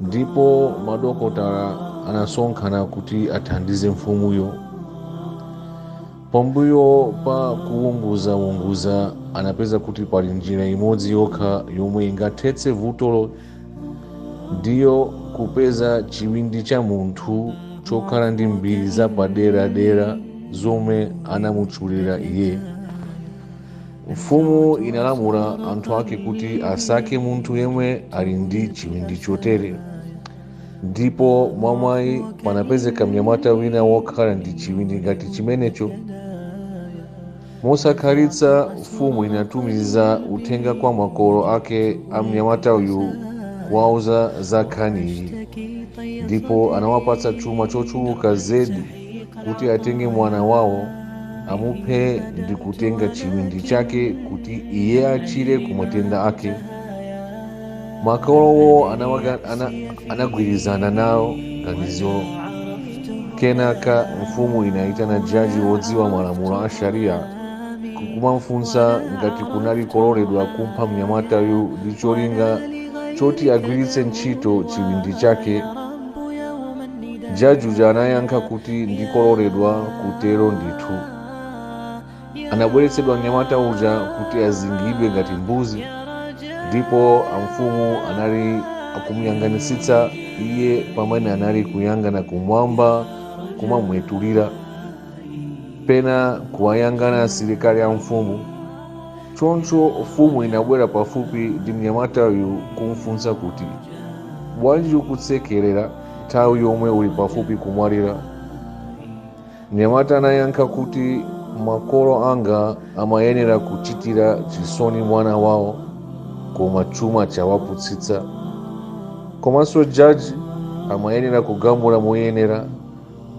ndipo madokotala anasonkhana kuti athandize mfumuyo pambuyo pa kuwunguzawunguza anapeza kuti pali njira imodzi yokha yomwe ingathetse vutolo ndiyo kupeza chiwindi cha munthu chokhala ndi mbiri zapaderadera zomwe anamutchulira iye mfumu inalamula anthu ake kuti asake munthu yemwe ali ndi chiwindi chotere ndipo mwamwayi panapezeka mnyamata wina wokhala ndi chiwindi ngati chimenecho mosakhalitsa mfumu inatumiza uthenga kwa makolo ake a mnyamata uyu kuwauza za nkhaniyi ndipo anawapatsa chuma chochuluka zedi kuti atenge mwana wawo amuphe ndi kutenga chiwindi chake kuti iye achire ku matenda ake makolowo anawaga- ana- anagwirizana nalo ganizolo kenaka mfumu inayitana jaji wodziwa malamulo a sharia nkumamfunsa ngati kunali kololedwa kumupha mnyamatayu ndi cholinga choti agwiritse ntchito chiwindi chake jaji uja anayankha kuti ndikoloredwa kutero ndithu anabweretsedwa mnyamata uja kuti azingidwe ngati mbuzi ndipo amfumu anali akumuyang'anitsitsa iye pamene anali kuyang'ana kumwamba kumamwetulira pena kuwayang'ana asilikali a mfumu choncho mfumu inabwera pafupi ndi mnyamatayu kumfunsa kuti bwanji ukusekerera nthawi yomwe uli pafupi kumwalira mnyamata anayankha kuti makolo anga amayenera kuchitira chisoni mwana wawo koma chuma chawapusitsa komanso jaji amayenera kugamula moyenera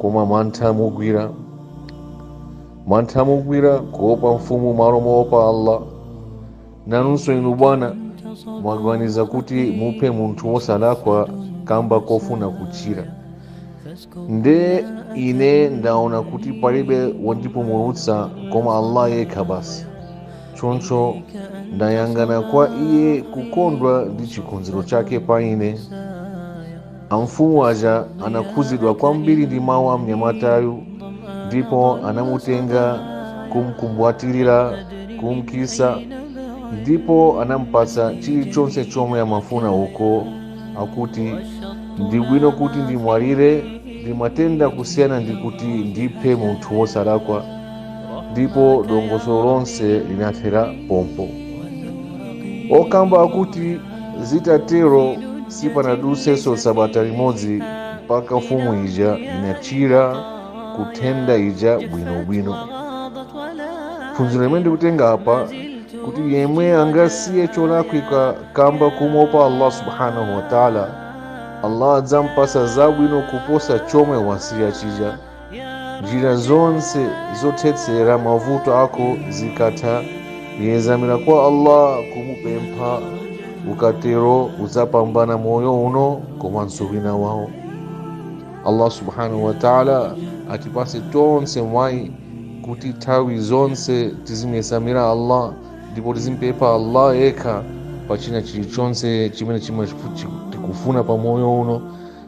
koma mantha amugwira mantha amugwira kuopa mfumu m'malo moopa allah nanunso inu bwana mwaganiza kuti muphe munthu wosalakwa kamba kofuna kuchira nde ine ndaona kuti palibe wondipumulutsa koma allah yekha basi choncho ndayang'ana kwa iye kukondwa ndi chikonzero chake pa ine Amfumu aja anakhuzidwa kwambiri ndi mawu a mnyamatayu ndipo anamutenga kumkumbwatirira kumkisa ndipo anampatsa chilichonse chomwe amafuna uku akuti ndibwino kuti ndimwalire ndi matenda kusiyana ndi kuti ndiphe munthu wosalakwa ndipo dongosolo lonse linathera pompo okamba akuti Zitatero sipanadutsenso sabata limodzi mpaka mfumu ija inachira ku nthenda ija bwinobwino. Phunziro limene ndikutenga apa kuti yemwe angasiye cholakwika kamba kumopa Allah subhanahu wa ta'ala, Allah adzampasa zabwino kuposa chomwe wasiya chija. njira zonse zothetsera mavuto ako zikatha yedzamira kwa allah kumupempha ukatero udzapambana moyo uno komanso wina wawo allah subhanahu wa taala atipatse tonse mwayi kuti nthawi zonse tizimuyedzamira allah ndipo tizimpempha allah yekha pa china chilichonse chimene chimene tikufuna pa moyo uno